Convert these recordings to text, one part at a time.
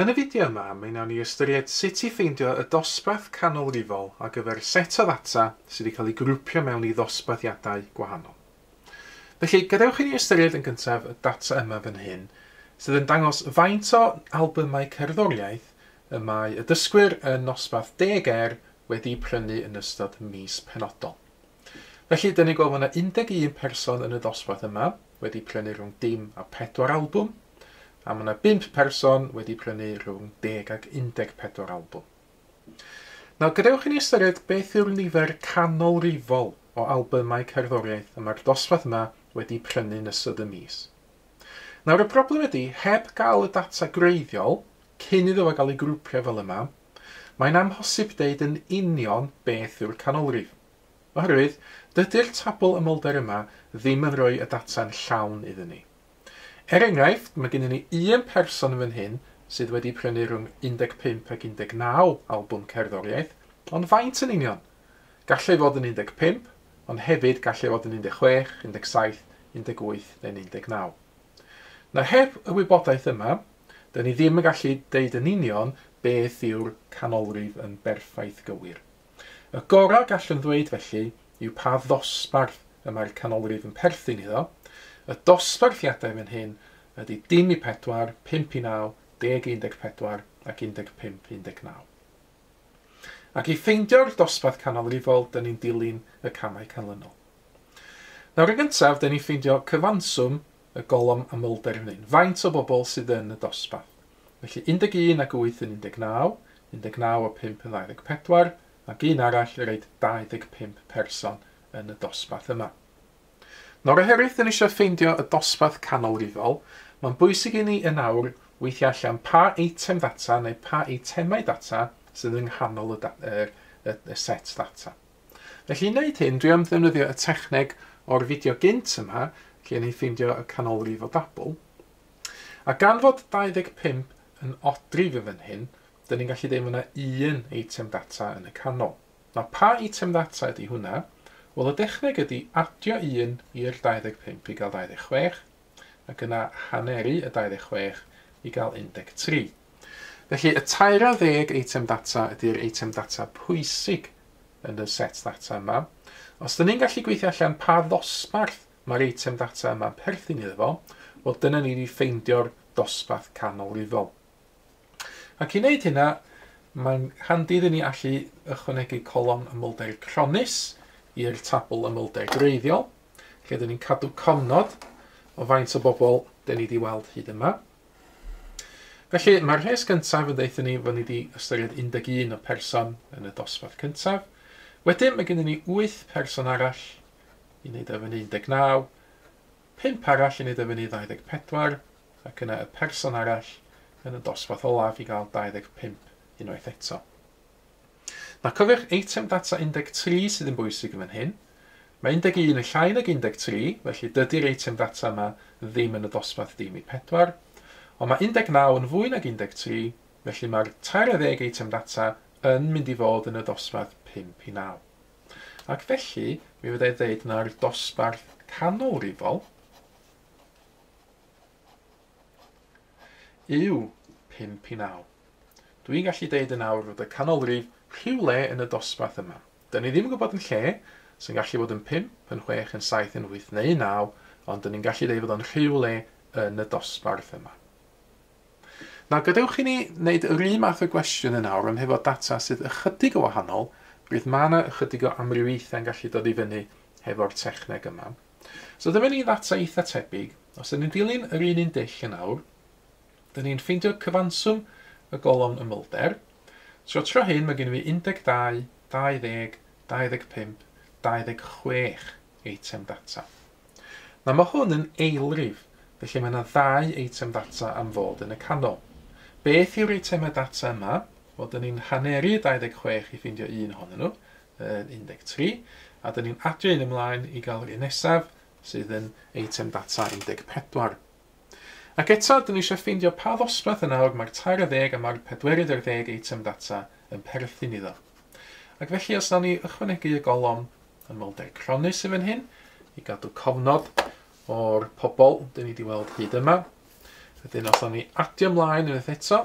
Yn y fideo yma, mi wnawn ni ystyried sut i ffeindio y dosbarth canolrifol ar gyfer set o ddata sydd wedi cael ei grwpio mewn i ddosbarthiadau gwahanol. Felly, gadewch i ni ystyried yn gyntaf y data yma fan hyn, sydd yn dangos faint o albymau cerddoriaeth y mae y dysgwyr yn nosbarth Deg Er wedi prynu yn ystod mis penodol. Felly, dan ni'n gweld mae yna 11 person yn y dosbarth yma wedi prynu rhwng dim a pedwar albwm, a mae yna 5 person wedi prynu rhwng deg ac 14 albwm. Nawr, gadewch i ni ystyried beth yw'r nifer canolrifol o albymau cerddoriaeth y mae'r dosbarth yma wedi prynu yn ystod y mis. Nawr, y broblem ydy, heb gael y data gwreiddiol, cyn iddo fo gael ei grwpio fel yma, Mae'n amhosib deud yn union beth yw'r canolrif, oherwydd dydy'r tabl ymolder yma ddim yn rhoi y data'n llawn iddyn ni. Er enghraifft, mae gennym ni un person yn fan hyn sydd wedi prynu rhwng 15 ac 19 albwm cerddoriaeth, ond faint yn union? Gall ei fod yn 15, ond hefyd gall ei fod yn 16, 17, 18 neu'n 19. Na heb y wybodaeth yma, 'dyn ni ddim yn gallu deud yn union beth yw'r canolrif yn berffaith gywir. Y gorau gallwn ddweud felly yw pa ddosbarth y mae'r canolrif yn perthyn iddo, y dosbarthiadau fan hyn ydy dim i pedwar, pump i naw, deg i un deg pedwar ac un deg pump i un deg naw. Ac i ffeindio'r dosbarth canolrifol 'dyn ni'n dilyn y camau canlynol. Nawr yn gyntaf 'dyn ni'n ffeindio cyfanswm y golofn amlder yn un. Faint o bobl sydd yn y dosbarth? Felly 11 ag 8 yn 19, 19 a 5 yn 24, ag un arall yn roed 25 person yn y dosbarth yma. Nora Herith yn eisiau ffeindio y dosbarth canolrifol, mae'n bwysig i ni yn awr weithio allan pa eitem ddata neu pa eitemau data sydd yng nghanol y, y, y, y set ddata. Felly i wneud hyn, dwi am ddefnyddio y techneg o'r fideo gynt yma, lle ni'n ffeindio y canolrif o dabl. A gan fod 25 yn odrif yn fan hyn, dyn ni'n gallu deud mae yna un eitem data yn y canol. Nawr, pa eitem ddata ydy hwnna? Wel, y dechneg ydy adio un i'r 25 i gael 26, ac yna haneru y 26 i gael 13. Felly, y 30 eitem data ydy'r eitem data pwysig yn y set data yma. Os dyn ni'n gallu gweithio allan pa ddosbarth mae'r eitem data yma'n perthyn iddo fo, wel dyna ni wedi ffeindio'r dosbarth canolifol. Ac i wneud hynna, mae'n handi iddyn ni allu ychwanegu colofn ymwlder cronnus i'r tabl ymwlder gwreiddiol, lle dyn ni'n cadw cofnod o faint o bobl dyn ni wedi weld hyd yma. Felly, mae'r rhes gyntaf yn dweud ni fod ni wedi ystyried 11 o person yn y dosbarth cyntaf. Wedyn, mae gennym ni 8 person arall i wneud o fyny 19, 5 arall i wneud o fyny 24, ac yna y person arall yn y dosbarth olaf i gael 25 unwaith eto. Na, cofiwch eitem data 13 sydd yn bwysig yn fan hyn. Mae 11 yn llai nag 13, felly dydy'r eitem data yma ddim yn y dosbarth dim i 4. Ond mae 19 yn fwy nag 13, felly mae'r tair ar ddeg eitem data yn mynd i fod yn y dosbarth 5 i 9. Ac felly, mi fyddai ddeud na'r dosbarth canolrifol yw 5 i 9. Dwi'n gallu deud yn awr fod y canolrif rhywle yn y dosbarth yma. Dyn ni ddim yn gwybod yn lle, sy'n gallu bod yn 5, yn 6, yn 7, yn 8 neu 9, ond dyn ni'n gallu deud fod o'n rhywle yn y dosbarth yma. Nawr, gadewch i ni wneud yr un math o gwestiwn yn awr, ond hefo data sydd ychydig o wahanol, rydw mae yna ychydig o amrywiaethau'n gallu dod i fyny hefo'r techneg yma. So dyma ni ddata eitha tebyg. Os ydyn ni'n dilyn yr un un dull yn awr, dyn ni'n ffeindio cyfanswm y golofn ymylder. Tro tro hyn mae gen i fi 12, 20, 25, 26 eitem data. Na mae hwn yn eilrif, felly mae yna ddau eitem ddata am fod yn y canol. Beth yw'r eitemau data yma? Wel, dyn ni'n haneru 26 i ffeindio un ohonyn nhw, yn 13, a dyn ni'n adio un ymlaen i gael yr un nesaf, sydd yn eitem data 14. Ac eto, dyn ni eisiau ffeindio pa ddosbarth yn awr mae'r tair ar ddeg a mae'r pedwerydd ar ddeg eitem data yn perthyn iddo. Ac felly, os nawn ni ychwanegu y golofn ymolder cronnus i fan hyn, i gadw cofnod o'r pobl dyn ni wedi weld hyd yma, wedyn os nawn ni adio ymlaen unwaith eto,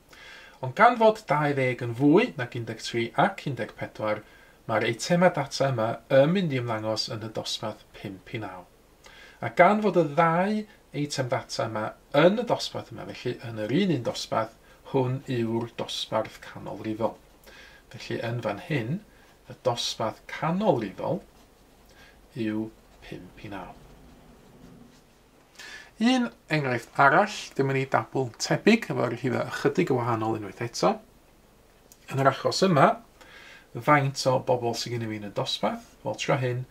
Ond gan fod 20 yn fwy nag 13 ac 14, mae'r eitemau data yma yn mynd i ymddangos yn y dosbarth 5 i 9. A gan fod y ddau eitem data yma yn y dosbarth yma, felly yn yr un un dosbarth, hwn yw'r dosbarth canolrifol. Felly yn fan hyn, y dosbarth canolrifol yw 5 i 9. Un enghraifft arall, dyma ni dabl tebyg efo arhifau ychydig yn wahanol unwaith eto. Yn yr achos yma, faint o bobl sydd gennym ni yn y dosbarth? Wel, tro hyn,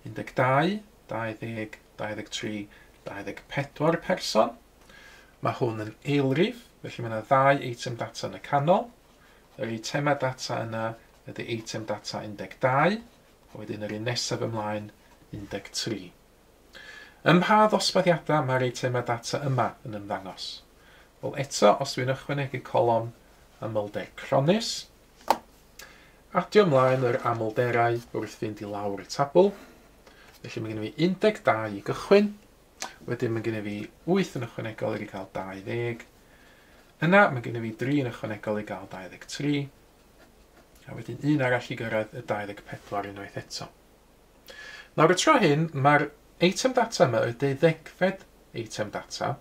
12, 20, 23, 24 person. Mae hwn yn eilrif, felly mae yna ddau eitem data yn y canol. Yr eitemau data yna ydy eitem data 12, a wedyn yr un nesaf ymlaen 13. Ym mha ddosbarthiadau mae'r eitemau data yma yn ymddangos? Wel, eto, os dw i'n ychwanegu colofn amlder cronnus, adio ymlaen yr amlderau wrth fynd i lawr y tabl, felly mae gen i fi 12 i gychwyn, wedyn mae gen i fi 8 yn ychwanegol i gael 20, yna mae gen i fi 3 yn ychwanegol i gael 23, a wedyn un arall i gyrraedd y 24 unwaith eto. Nawr y tro hyn, mae'r eitem data yma, y deuddegfed eitem data,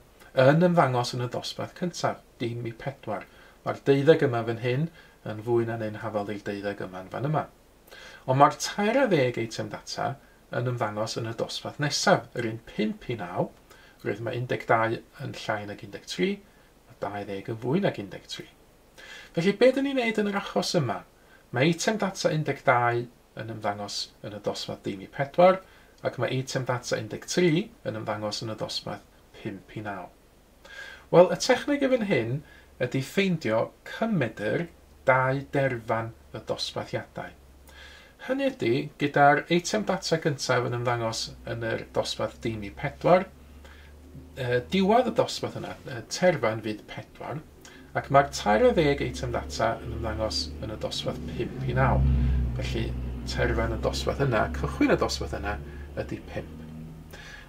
yn ymddangos yn y ddosbarth cyntaf, dim i pedwar. Mae'r deuddeg yma fan hyn yn fwy na'n un hafal i'r deuddeg yma'n fan yma. Ond mae'r tair a ddeg eitem data yn ymddangos yn y dosbarth nesaf, yr un pump i naw, roedd mae 12 yn llai nag 13, mae 20 yn fwy nag 13. Felly, be dyn ni'n neud yn yr achos yma? Mae eitem data 12 yn ymddangos yn y dosbarth dim i pedwar ac mae eitem data 13 yn ymddangos yn y dosbarth pump i naw. Wel, y techneg i fan hyn ydy ffeindio cymmedr dau derfan y dosbarthiadau. Hynny ydy, gyda'r eitem data gyntaf yn ymddangos yn yr dosbarth dim i pedwar, diwedd y dosbarth yna, terfan fyd pedwar, Ac mae'r 30 eitem ddata yn ymddangos yn y dosbarth 5 i 9. Felly, terfyn y dosbarth yna, cychwyn y dosbarth yna, ydy 5.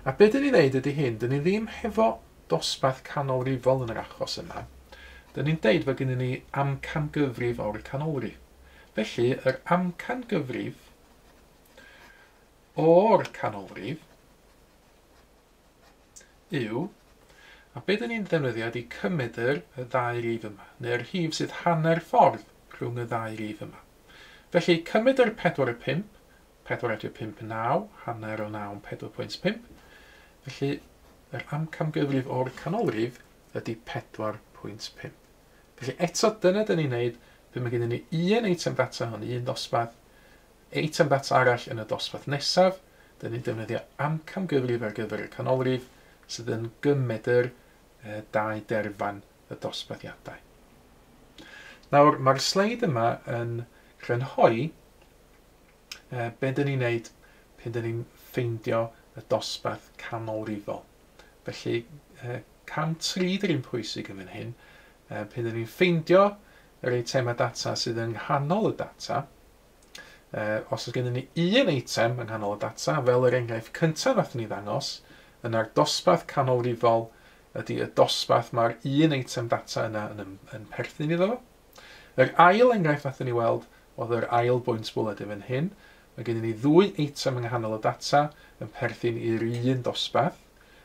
A be dyn ni ddeud ydy hyn, dyn ni ddim hefo dosbarth canolrifol yn yr achos yma. Dyn ni'n deud fod gennym ni amcan gyfrif o'r canolrif. Felly, yr amcan gyfrif o'r canolrif yw, a be dyn ni'n ddefnyddio ydy cymedr y ddau rif yma, neu'r rhif sydd hanner ffordd rhwng y ddau rif yma. Felly, cymedr 4 y 5, 4 adio 5 yn 9, hanner o 9 yn 4.5. Felly, yr amcamgyfrif o'r canolrif ydy 4.5. Felly, eto, dyna dyn ni'n neud, pe mae gennym ni un eitem ddata hwn, un dosbarth, Eitem ddata arall yn y dosbarth nesaf, dŷn ni'n defnyddio amcamgyfrif ar gyfer y canolrif sydd yn gymedr dau derfan y dosbarthiadau. Nawr, mae'r sleid yma yn crynhoi be dŷn ni'n neud pan dŷn ni'n ffeindio y dosbarth canolrifol. Felly, cam 3 dy'r un pwysig yn fan hyn, pan dŷn ni'n ffeindio yr eitemau data sydd yng nghanol y data, Os oes gennym ni un eitem yng nghanol y data, fel yr enghraifft cyntaf wnaethon ni ddangos, yna'r dosbarth canolrifol ydy y dosbarth mae'r un eitem data yna yn, yn perthyn iddo fo. Yr ail enghraifft wnaethon ni weld oedd yr ail bwynt bwled yn fan hyn. Mae gennym ni ddwy eitem yng nghanol y data yn perthyn i'r un dosbarth,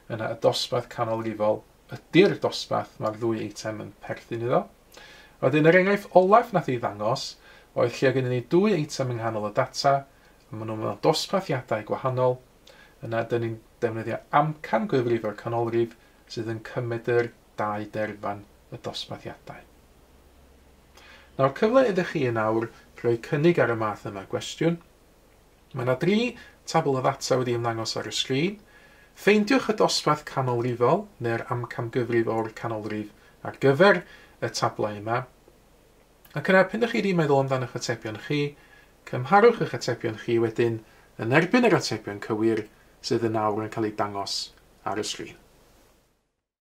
yna y dosbarth canolrifol ydy'r dosbarth mae'r ddwy eitem yn perthyn iddo. Wedyn, yr enghraifft olaf wnaeth ei ddangos oedd lle oedd gennyn ni dwy eitem yng nghanol y data, a maen nhw mewn dosbarthiadau gwahanol. Yna, dyn ni'n defnyddio amcan gwefrifwr canolrif sydd yn cymedr dau derfan y dosbarthiadau. Nawr, cyfle iddo chi yn awr roi cynnig ar y math yma gwestiwn. Mae yna dri tabl o ddata wedi ymddangos ar y sgrin. Ffeindiwch y dosbarth canolrifol, neu'r amcamgyfrif o'r canolrif, ar gyfer y tablau yma. Ac yna, p'un ydych chi wedi meddwl amdan eich atebion chi, cymharwch eich atebion chi wedyn yn erbyn yr atebion cywir sydd yn awr yn cael eu dangos ar y sgrin.